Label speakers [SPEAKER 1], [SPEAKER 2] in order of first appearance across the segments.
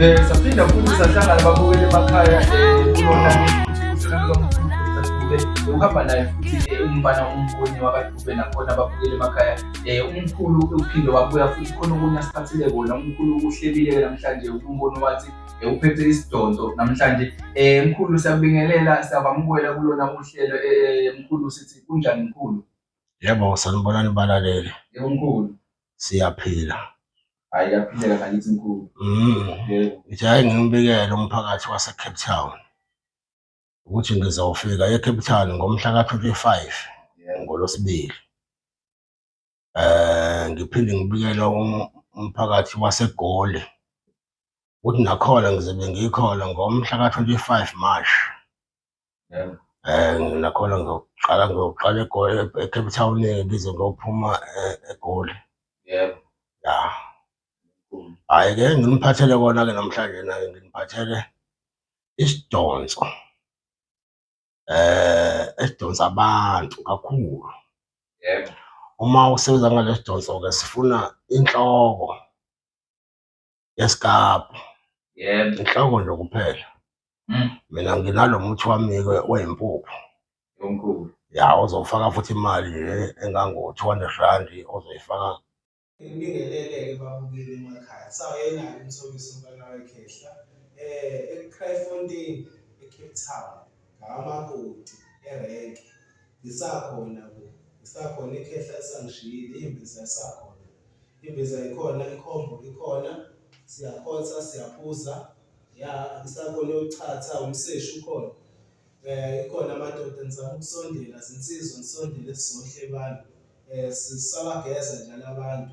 [SPEAKER 1] Eh, saphinda futhi sahlangana babukele emakhaya ukuhamba naye futhi umfana umboni wakadube nakhona babukele emakhaya um umkhulu uphinde wabuya futhi khona okunye asiphathile kona umkhulu uhlebile namhlanje umboni wathi uphethe isidonso namhlanje um mkhulu siyakubingelela siyabamukela kulona uhlelo um mkhulu sithi kunjani mkhulu Yebo,
[SPEAKER 2] sanibonani balaleli. Yebo mkhulu.
[SPEAKER 1] Siyaphila.
[SPEAKER 2] Hayi
[SPEAKER 1] yaphileka ngakithi mkhulu. Mm. Yebo. Ngithi
[SPEAKER 2] hayi ngimbikele umphakathi waseCape Town ukuthi ngizofika eCape Town ngomhla ka-25 Yebo. ngoLwesibili. Eh ngiphinde ngibikele um- umphakathi waseGoli ukuthi nakhona ngizobe ngikhona ngomhla ka-25 March um nakhona ngiyoqala ngiyoqala egoli ecape town ngize ngiyophuma eh, egoli yebo
[SPEAKER 1] ya
[SPEAKER 2] hhayi-ke nginiphathele kona-ke namhlanje naye nginiphathele isidonso eh esidonsa abantu kakhulu yebo
[SPEAKER 1] uma
[SPEAKER 2] usebenza ngalesidonso ke sifuna inhloko yesikabhu yebo
[SPEAKER 1] inhloko nje kuphela
[SPEAKER 2] Mm. mina nginalo muthi wami-ke oyimpuphu omkhulu
[SPEAKER 1] ya ozofaka
[SPEAKER 2] futhi imali nje engango-200 rand ozoyifaka Ngibingelele-ke babukeli emakhaya. Sawayenalo umthomisi umfana wekhehla
[SPEAKER 3] eh eKraaifontein eCape Town. ngawamakoti erenki ngisakhona bo ngisakhona ikhehla lisangishiyile imbiza isakhona imbiza ikhona ikhombo ikhona siyakhotha siyaphuza ya ngisakhona uyochatha umseshi ukhona um ikhona amadoda ngizama ukusondela zinsizwa ngisondele sizohle abantu um sisabageza njalo abantu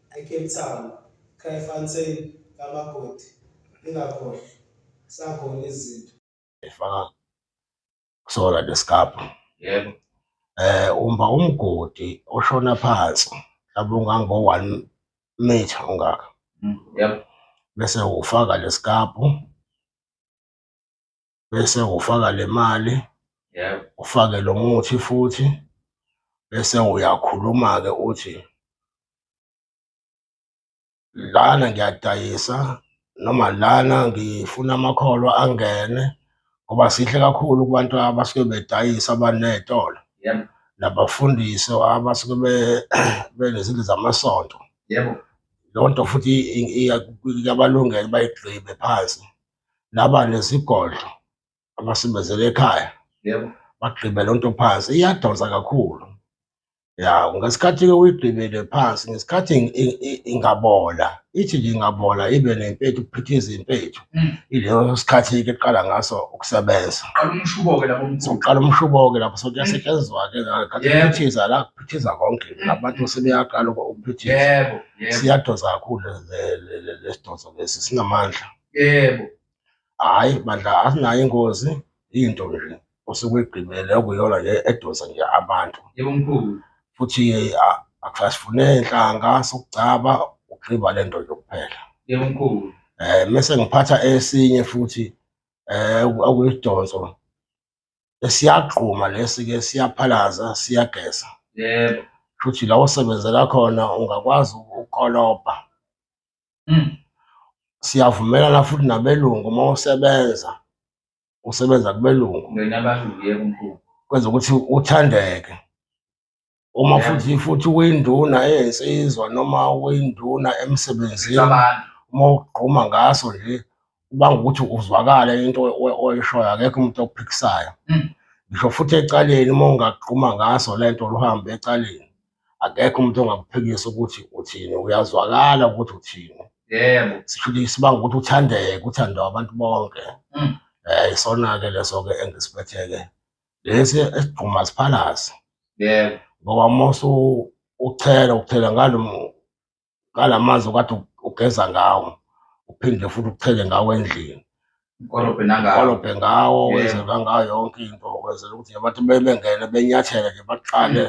[SPEAKER 3] eCape Town, Kraaifontein, kamakoti. Ningakhohlwa, sakhona izinto. Efaka
[SPEAKER 2] kusona lesikabha. Yebo.
[SPEAKER 1] Eh uma
[SPEAKER 2] umgodi oshona phansi mhlawumbe ungango 1 meter ungaka. Mm, Yebo.
[SPEAKER 1] Bese
[SPEAKER 2] ufaka lesikabhu bese ufaka le mali yebo
[SPEAKER 1] ufake lo muthi
[SPEAKER 2] futhi bese uyakhuluma-ke uthi lana ngiyadayisa noma lana ngifuna amakholwa angene ngoba sihle kakhulu kubantu abasuke bedayisa abaney'tolo yebo
[SPEAKER 1] nabafundisi
[SPEAKER 2] abasuke be- benezindlu zamasonto
[SPEAKER 1] yebo loo nto futhi
[SPEAKER 2] i- i- iyabalungela bayigqibe phansi laba nesigodlo abasebenzela ekhaya yebo bagqibe
[SPEAKER 1] loo nto
[SPEAKER 2] phansi iyadonsa kakhulu ya ngesikhathi-ke uyigqibele phansi ngesikhathi ing- ing- ing- ingabola ithi nje ingabola ibe nempethu kuphithiza impethu Mm. ileso sikhathi-ke kuqala ngaso ukusebenza qala umshubo-ke
[SPEAKER 1] lapho mkhulu sokuqala umshubo-ke lapho
[SPEAKER 2] so kuyasetshenziswa-ke ngakhathi Yebo. kuphithiza la kuphithiza konke nabantu sebeyaqala uku- ukuphithiza yebo yebo
[SPEAKER 1] siyadonsa kakhulu
[SPEAKER 2] le- le- le- lesidonso lesi sinamandla yebo
[SPEAKER 1] hayi
[SPEAKER 2] bandla asinayo ingozi into nje osuke igqibele okuyona le edonsa nje abantu yebo mkhulu
[SPEAKER 1] futhi a-
[SPEAKER 2] akusasifune inhlanga sokugcaba ugqiba le nto nje kuphela yebo mkhulu
[SPEAKER 1] eh mese ngiphatha
[SPEAKER 2] esinye futhi eh oku- okuyidonso esiyagquma lesi ke siyaphalaza siyageza yebo
[SPEAKER 1] futhi la
[SPEAKER 2] osebenzela khona ungakwazi uku- ukolobha Mm. Siyavumelana futhi nabelungu uma usebenza usebenza kubelungu Nina abadlulile
[SPEAKER 1] kumkhulu. kwenza ukuthi
[SPEAKER 2] uthandeke. Uma Yeah. futhi futhi uyinduna eyensizwa noma uyinduna emsebenzini Abantu. uma ugquma ngaso nje ubanga ukuthi uzwakale into oy- oy- oyishoyo akekho umuntu okuphikisayo Mm. ngisho futhi ecaleni uma ungagquma ngaso lento luhambe ecaleni akekho umuntu ongakuphikisa ukuthi uthini uyazwakala ukuthi uthini yebo sifundisa
[SPEAKER 1] banga ukuthi
[SPEAKER 2] uthandeke uthandwa abantu bonke mm. eh isona-ke leso-ke engisiphethe-ke lesi esigquma siphalazi yebo
[SPEAKER 1] ngoba uma
[SPEAKER 2] usuchela ukuchela ngalo ngala manzi okade ugeza ngawo uphinde futhi ukuchele ngawo endlini kolobhe nangawo kolobhe ngawo wenzelwa ngayo yonke into kwenzela ukuthi abantu bebengene benyathele nje baqale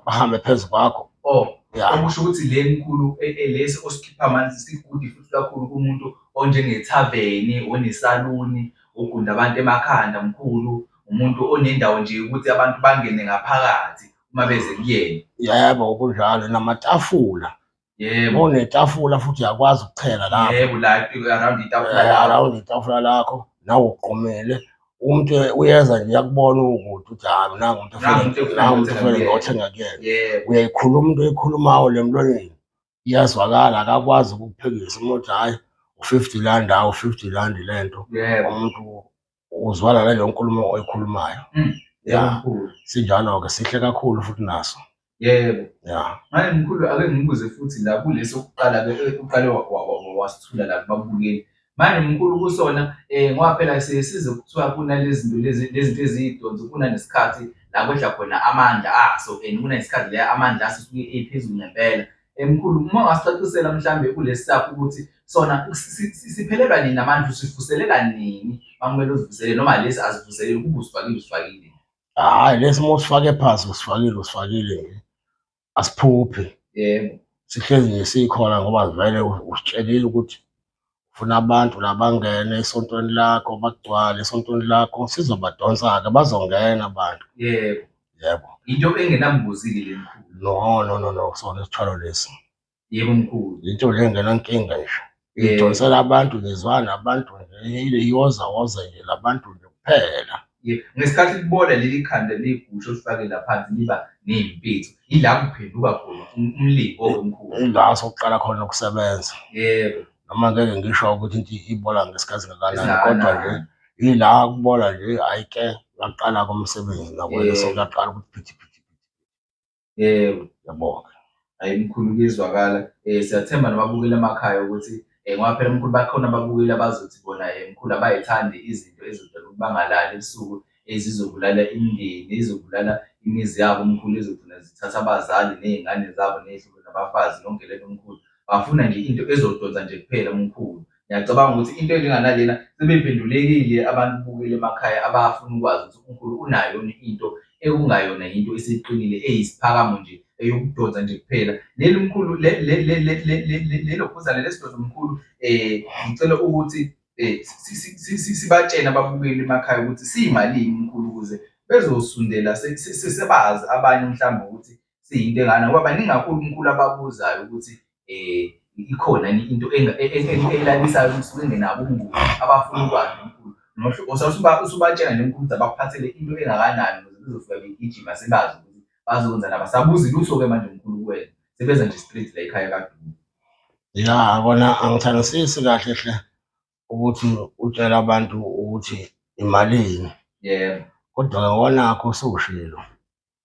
[SPEAKER 2] bahambe phezu kwakho oh okusho ukuthi
[SPEAKER 1] le mkhulu e, e, lesi osikhipha manje sigudi futhi kakhulu kumuntu onjengethaveni onesaluni ogunda abantu emakhanda mkhulu umuntu onendawo nje ukuthi abantu bangene ngaphakathi uma beze kuyena yebo kunjalo
[SPEAKER 2] namatafula yebo
[SPEAKER 1] onetafula futhi
[SPEAKER 2] uyakwazi ukuchela lapho yebo la around
[SPEAKER 1] itafula eh, lakho around itafula lakho
[SPEAKER 2] nawe uqomele umuntu uyeza nje yakubona ukuthi uthi hayi nangu umuntu nangu umuntu ofele ngothenga kuyena uyayikhuluma into eyikhulumayo lemlonyeni iyazwakala akakwazi ukukuphekisa uma uthi hhayi u-fifty rand hawu u-fifty rand le nto yebo umuntu uzwala naleyo nkulumo oyikhulumayo Mm. ya Mkhulu. sinjalo-ke sihle kakhulu futhi naso yebo ya
[SPEAKER 1] manje mkhulu ake ngibuze futhi la kulesi okuqala ke uqale wa- wa- wa- wasithula la kubabukeli manje mkhulu kusona um ngoba phela siye size kuthiwa kunalezinto lezinto eziyidonsi kunanesikhathi la kwehla khona amandla aso and kunesikhathi la amandla aso suke ephezulu ngempela emkhulu uma ungasicacisela mhlambe kulesi sakho ukuthi sona siphelelwa nini namandla usivuselela nini makumele uzivuselele noma lesi azivuselele kuba usifakile usifakile hayi lesi
[SPEAKER 2] uma usifake phansi usifakile usifakile nje asiphuphi yebo
[SPEAKER 1] sihlezi nje
[SPEAKER 2] sikhona ngoba vele usitshelile ukuthi ufuna abantu labangene esontweni lakho bagcwale esontweni lakho sizobadonsa-ke bazongena abantu yebo
[SPEAKER 1] yebo into
[SPEAKER 2] engenambuzile
[SPEAKER 1] le mkhulu no no no no sona isithwalo
[SPEAKER 2] lesi
[SPEAKER 1] yebo mkhulu into le ngenankinga
[SPEAKER 2] nje Eh. idonsela abantu ngizwana abantu nje iyoza woza nje labantu nje kuphela Ye- ngesikhathi
[SPEAKER 1] libola leli khanda ligusho lifake laphansi liba neyimpethu yila kuphenduka khona um- umlingo wemkhulu ila sokuqala khona
[SPEAKER 2] ukusebenza yebo noma
[SPEAKER 1] ngeke ngisho
[SPEAKER 2] ukuthi into ibola ngesikhathi ngakanani Esingakanani. kodwa nje ila kubola nje ayike ngaqala komsebenzi nakwena Yebo. sokuyaqala ukuthi phithi phithi
[SPEAKER 1] yebo yabonga
[SPEAKER 2] hayi mkhulu
[SPEAKER 1] kuyezwakala um siyathemba nababukeli emakhaya ukuthi um ngoba phela mkhulu bakhona ababukeli abazothi bona um mkhulu abayithandi izinto ezidala ukuthi bangalali ebusuku ezizobulala imindeni ezobulala imizi yabo mkhulu ezogcina zithatha abazali ney'ngane zabo ney'hlobo nabafazi yonke lento mkhulu bafuna nje into ezodonsa nje kuphela mkhulu Ngiyacabanga ukuthi into enjenganalena sebephendulekile abantu bukele emakhaya abafuna ukwazi ukuthi uNkulunkulu unayo yona into ekungayona yinto esiqinile eyisiphakamo nje eyokudonsa nje kuphela leli mkhulu lelo phuzane lesidoda mkhulu um eh, ngicela ukuthi um sibatshene ababukeli emakhaya ukuthi siyimalini mkhulu ukuze bezosundela sebazi abanye mhlawumbe ukuthi siyinto engana ngoba baningi kakhulu umkhulu ababuzayo ukuthi um ikhona yini into elalisayo kusuke engenabo umnguni abafuna ukwazi umkhulu usubatshela nje umkhulu ukuthi abakuphathele into engakanani ukuze bezofika begijima sebazi ukuthi bazokwenza nabo asabuzi lutho-ke manje umkhulu kuwena sebeza nje straight la ekhaya kaduku ya
[SPEAKER 2] kona angithandisisi kahle hle ukuthi utshela abantu ukuthi imalini yebo
[SPEAKER 1] kodwa-ke konakho
[SPEAKER 2] usushilo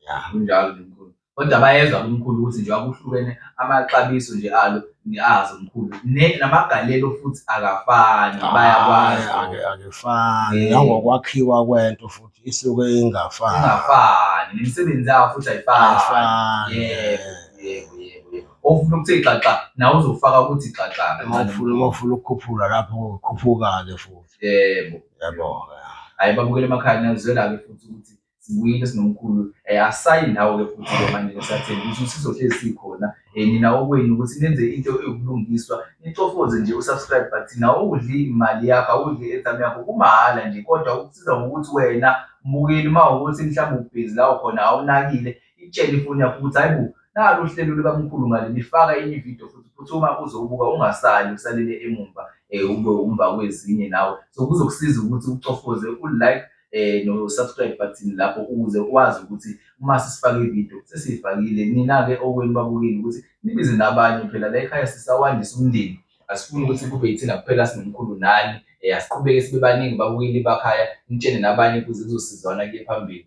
[SPEAKER 1] Yeah. kunjalo nje mkhulu kodwa bayezwa kumkhulu ukuthi njengoba kuhlukene amaxabiso nje alo niazi umkhulu Ne- namagalelo futhi akafani bayakwazi Ake- ake- akefani
[SPEAKER 2] Eh. nangokwakhiwa kwento futhi isuke ingafani ingafani nemisebenzi yawo
[SPEAKER 1] futhi ayifani Ayifani. yebo yebo yebo yebo ofuna ukuthi xaxa nawe uzofaka ukuthi xaxa Uma kancane. ufuna uma ufuna
[SPEAKER 2] ukukhuphula lapho kukhuphuka-ke futhi yebo
[SPEAKER 1] yabo-ke
[SPEAKER 2] hayi babukele
[SPEAKER 1] emakhaya niyazwela-ke futhi ukuthi sibuyile sinomkhulu eh, asayi ndawo-ke futhi ke manje ngisathemba ukuthi usizo hlezi sikhona um nina okwenu ukuthi nenze into eyobulungiswa nicofoze nje usubscribe but nawudli imali yakho awudli i-airtime yakho kumahhala nje kodwa ukusiza ngokuthi wena mbukeli uma ukuthi mhlawumbe ubhizi lawo khona awunakile Itshele ifoni yakho ukuthi hayi bo nalo uhlelo lukamkhulu ngale lifaka enye ividiyo futhi futhi uma uzowubuka ungasali usalele emumva um ube umva kwezinye nawe so kuzokusiza ukuthi ucofoze u-like eh no-subscribe button lapho ukuze ukwazi ukuthi uma sisifake ividiyo sesiyifakile nina-ke okwenu babukeli ukuthi nibize nabanye phela la ekhaya sisawandisa umndeni asifuni ukuthi kube yithina kuphela sinomkhulu nani um asiqhubeke sibe baningi babukeli bakhaya nitshene nabanye kuze kuzosizwana kuye phambili